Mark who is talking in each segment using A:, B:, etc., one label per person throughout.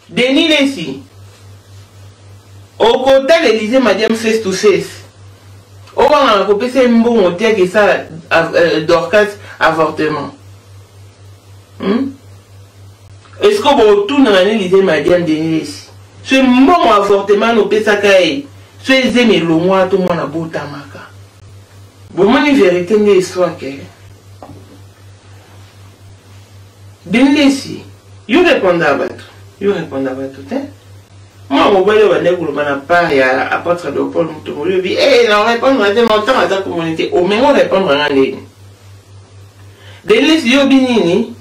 A: denis lesi okotala elize madiam face to face obangana kopesa ye mbongo te ake esala euh, dorcas avortement hmm? eske botunana na elize madiam denis lesi so mbongo avortement nopesaka ye Soki zemi elongwa to mwana abotamaka. Bomoni verite nde histoire ke. Bindesi, yo reponda bato, yo reponda bato te. Mwa mobali oyo bandaki koloba na part ya apôtre Léopold Mutombo olobi, eh na repondre te na ntango aza komoni te, omengo repondre nga ndenge. Denise yo bi nini?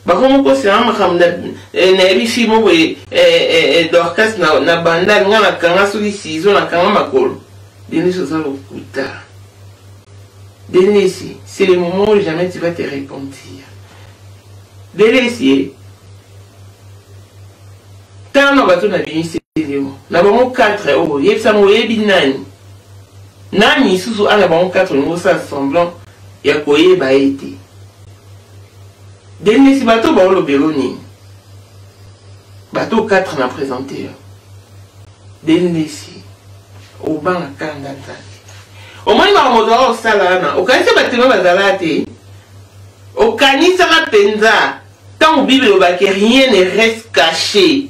A: bakomi kosanga makambo na eh, ebifi mo boye eh, eh, dorcas na bandal ngai nakanga soki sizo nakanga makolo denis oza lokuta denis c'est le moment où jamais tu vas te repentir denis ye tala na bato na bimisi elimo na bango 4 oyo oh, yebisa ngo oyebi nani nani lisusu ana bango 4 olingi osala semblant ya koyeba ye te Dennis bato baolobelo nini bato 4 na présente yo Dennis obanga kanda nzambe omoni makambo ozala kosala wana okanisa batema bazalaka te okanisaka mpenza ntango bible elobaki rien ne reste caché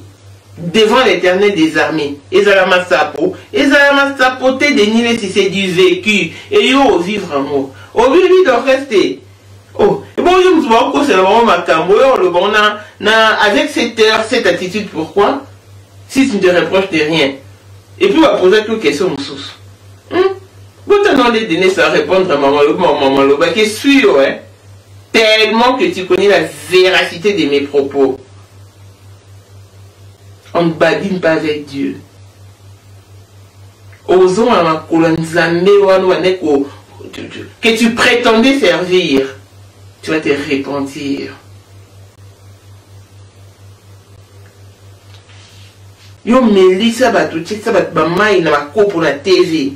A: devant l'éternel des armées ezala masapo ezala masapo te denilesi c'est du vécu eyo ovivre yango obibi doreste Oh, ebongo yo moto bakokosela bango makambo oyo oloba bango na, na avec cette heure cette attitude pourquoi si tu ne te reproche de rien et puis bapozaki yo question mosusu hmm? botana nde denis a répondre mama mama olobaki esui yo eh? tellement que tu connais la véracité de mes propos on ne badine pas avec dieu Okozonga na makolo ya Nzambe wana obandaki ko que tu prétendais servir. Tu vas te repentir. yo melisa bato tikisa bato bamai na bakopo na tv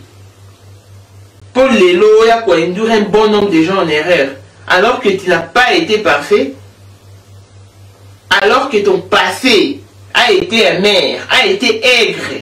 A: mpo lelo oya koinduire un bon nombre de gens en erreur alors que tu n'as pas été parfait alors que ton passé a été amer a été aigre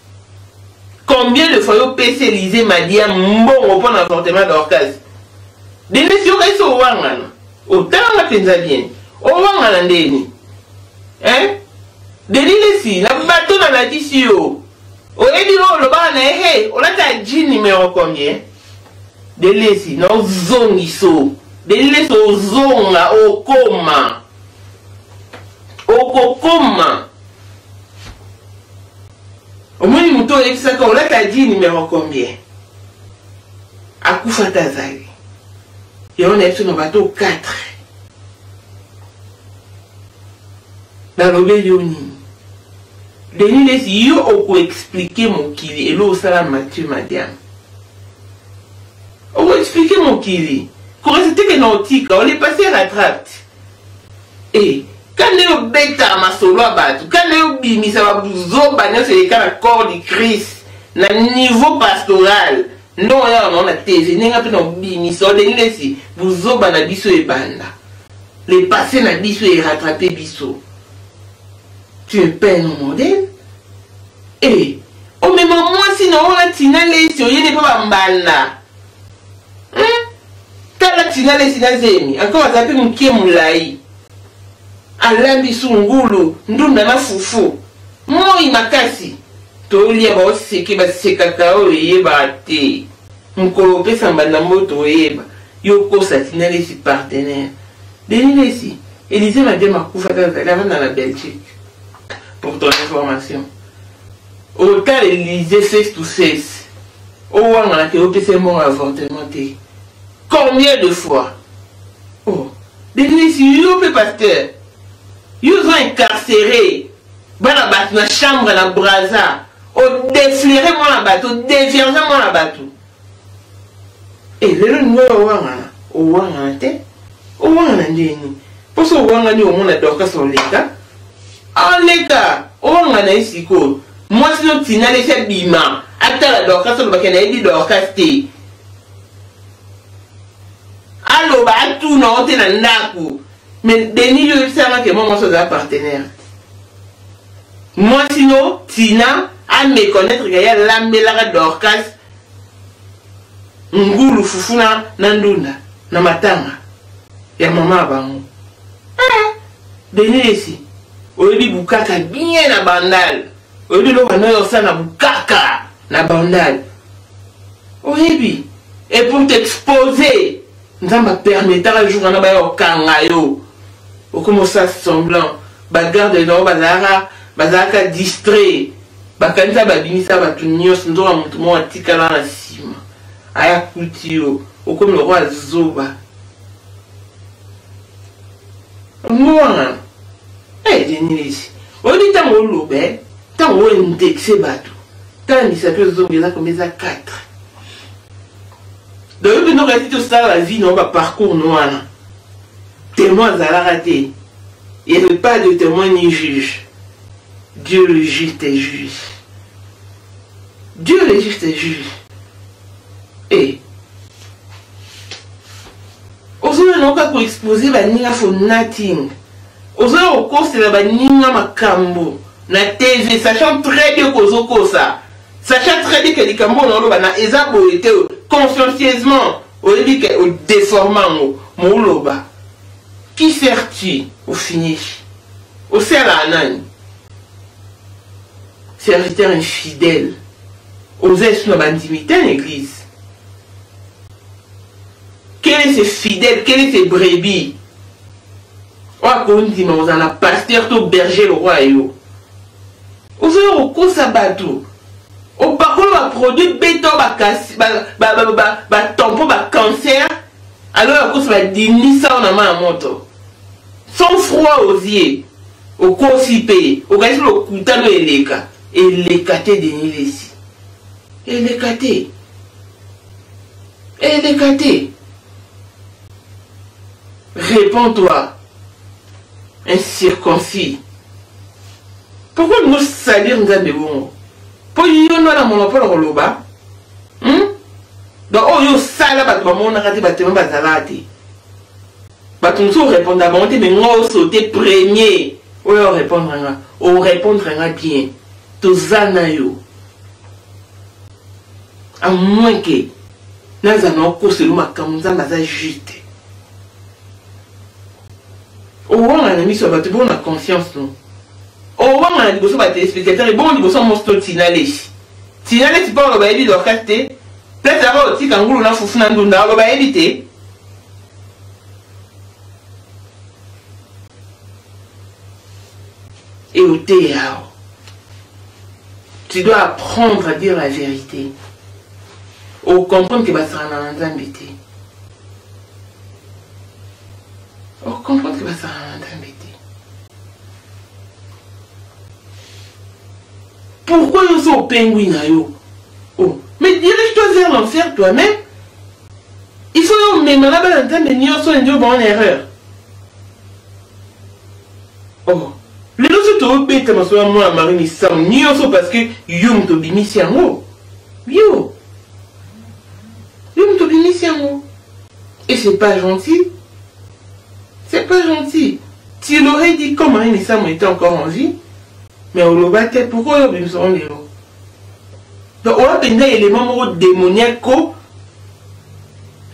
A: combien de fois yo pesi elize madia mbongo mpo na avortement dorcas denise yokayisi owangana otalanga mpenza bien owangana ndeni hein denilesi na bato nalakisi yo oyebi no olobaka na ye he olata ji numero combien delesi na ozongiso delesi ozonga okoma okokoma omoni moto oyebisaka olata di numero combien akufa ata azali yango na biso na bato 4 nalobeli yo nini denis lesi yo okoexplike mokili elo osala mathieu madiam okoexplike mokili korese teke na otika olepasse rattrapte Eh, kanda yo beta masolo ya bato kanda yo bimisa bazoba nyonso eleka na corps du christ na niveau pastoral nde oyo awa naona tv ndenge mpe nabimisa odengi nesi buzoba na biso ebanda le passé na biso erattrape biso tu es peine modèle e eh, omema mwasi na oyo atina lesi oyende mpe bambanda hmm? tala tinale sina zemi encore aza mpe moke molai alambi su ngulu ndunda na fufu moi makasi tolia baoseke basekaka oyo eyebaka te mokolo opesa mbanda mboto oyeba yo okosa tinalesi partenaire denilesi elize madiama akufa te azali avanda na belgique pour ton information Otala Elysee face to face. Owangana te opesa ye mbongo ya avortement te. Combien de fois? Oh, Denise yo mpe pasteur. Yo ozo incarcere bana bato na chambre na Brazza. Odeflere mwana bato, odevierge mwana bato. Eh, lelo nini owangana owangana te owangana ndenge nini mpo so owangani omona dorkas oleka aleka owangana ye sikoyo mwasi no tina lesi abima atala dorkas olobaki nayebi dorkas te aloba atuna o te na ndako Mais Denis yo yebisa nga ke mwa mwasi oza partenaire. Mwasi no Tina a me connaître ke ya lambelaka Dorcas ngulu fufu na na ndunda na matanga ya mama ya bango. Ah, Denis esi oyebi bukaka bien na bandal. Oyebi loba no yo sana bukaka na bandal. Oyebi et pour t'exposer nzambe apermetaka jour wana baya kokanga yo okoma osala semblant bagarde na yo bazalaka bazalaka distrait bakanisa babimisa bato nyonso nzoka moto moko atikala na nsima aya kuti yo okomi lokola zoba ngowangana edenilisi eh, oyebi ntango oloba eh? ntango oyo indexe bato tala misato ezonga eza komeza 4 donc yo mpenza okati te osala la vie nao baparcours no wana témoin azalaka te il n'y pas de témoin ni juge dieu le juste est juge dieu le juste est juge e eh. ozoya nao kaka koexpose baninga for nothing ozoya kokosela baninga makambo na tv sachant très bien kozokosa Sachant très bien que likambo na oloba na eza boye te consciencieusement oyebi ke odeforme yango moloba qui sert tu ofinishi osalaka nani serviteur infidèle oza esu na bandimi te na église quel est ce fidèle quel est ce brebis oyo akondima ozala pasteur to berger lokwa yo ozoya kokosa bato opakola baproduit beta batampo bacancer alors yakosa badindisa ona ma ya moto sans froid aux yeux okosi mpe okanisi lokutano eleka eleka te denilesi eleka te eleka te réponds toi incirconcis pourkoi olingi osalir nzambe bongo mpo yo nde wana mono mpo na koloba hmm? donc oyo oh, osala bato bamonaka te batema bazalaka te bato mosusu orépondre bango te mai nga osote premier oyo orépondre nga orépondre nga bien toza na yo a moins ke nazala na okoselo makambo nzambe aza juste owanga na miso ya bato bongo na conscience no owanga na liboso ba téléspectateur bongo liboso mosi to tina lesi tina lesi mpo aloba yebi dorcas te place yaka otika ngulu na fufu na ndunda aloba yebi te et au théâtre. Tu dois apprendre à dire la vérité. Au comprendre que basara na nzambe te. okomprendre ke basala na nzambe te pourquoi yo so opengwi na yo oh. mais dirige toi vers l'enfer toi-même il faut yo omema na bana nzambe nyonso endi oba en erreur oh. lelo so tobeta masolo ya mwana mari misamu nyonso parce que yo moto obimisi yango yo Yo mutu obimisi yango et c'est pas gentil. C'est pas gentil. Tu l'aurais dit quand Marie Messamo était encore en vie, mais oloba te pourquoi yo obimisa yango lelo donc oya mpenza élément moko démoniaque ko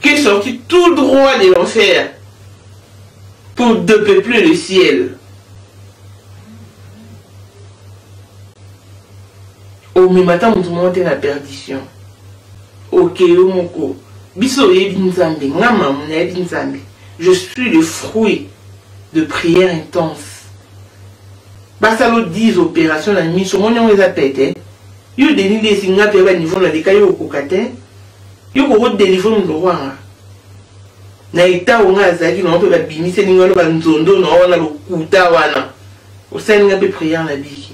A: qui est sorti tout droit de l'enfer pour depeupler le ciel omema ata moto moko te na perdition Ok yo moko biso oyebi nzambe nga mamu nayebi nzambe je suis le fruit de prière intense basala o 10 opération na miso omoni yango eza pete yo denis lesi nga mpe ya baniveau naleka yo okoka te yo kokodelivre moto kwanga na etat onga azalaki nango mpe babimiseli nga no banzondo na wana lokuta wana osali nga mpe prière na biki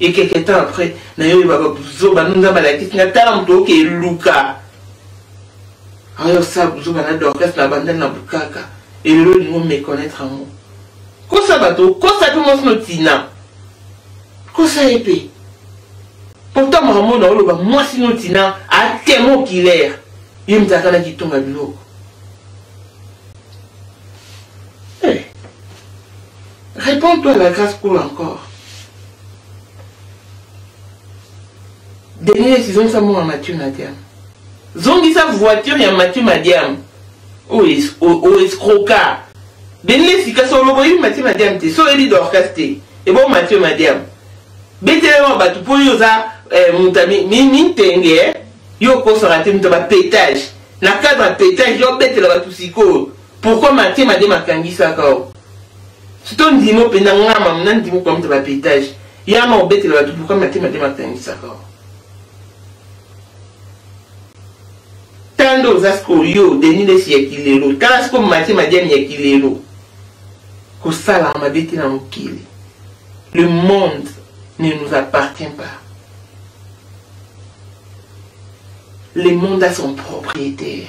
A: et quelque temps après nayo oyeba babuzoba no nzambe alakisi nga tala moto oke eluka ayo osala buzoba na dorcas na bandani na bukaka elelo olingi omeconnaître yango kosa bato okosa mpe mwasi no tina kosa ye mpe pourtant makambo na oloba mwasi no tina atemo kilaire ye mzalaka na kitonga biloko Repends toi à la grace pour encore. Denis ezongisa mbongo ya Mathieu Madiam. Zongisa voiture ya Mathieu Madiam. Oyo escroka. Denis esika so oloko yebi Mathieu Madiam te. So oyebi Dorcas te. Ebo Mathieu Madiam. Betelema bato mpo yo oza eh, moto mintenge eh. yo okosaka te moto ya bapetage na cadre ya petage yo obetela bato sikoyo Pourquoi matie made makangisaka yo? Sito ndimo penda nga mamu na ndimo kwa mta ba petage. Yama obetela batu pourquoi matie made makangisaka yo? Tando oza siko yo Denis Lessi ya kilelo. Tala siko matie madiani ya kilelo. Kosala mabe te na mokili. Le monde ne nous appartient pas. Le monde a son propriétaire.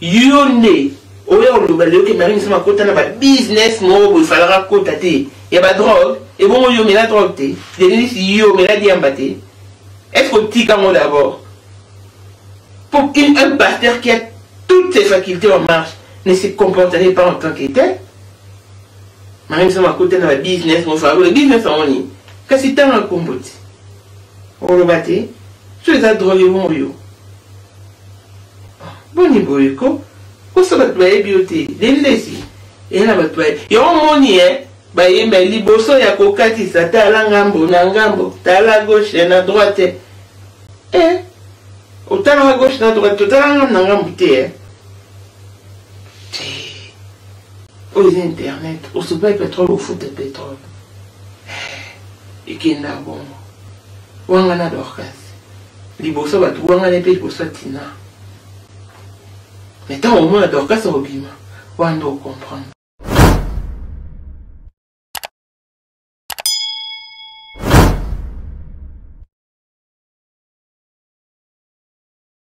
A: yo nde oya oloba leo ke marie misama akota na ba business moko boye falaka akota te ya ba drogue ebongo yo omela drogue te denise yo omela diamba te est ce que otika yango d'abord pour une, un pasteur qui a toutes ses facultés en marche ne se comporterait pas en tant que tel marie misama akota na ba business moko falaka business yango nini kasi ntango akombo te oloba te so eza drogue ebongo yo Boni boye ko kosa bato bayebi yo te lendesi eya na bato baye yo omoni eh bayemba liboso ya kokatisa tala ngambo na ngambo tala gauche na droite eh otalaka gauche na droite totala ngambo na ngambo te eh oyo eza internet osopai petrole ofuta petrole ekenda bongo wanga na dorcas liboso bato wangani mpe liboso ya tina me ntango omona dorkasi obima wana nde okomprendre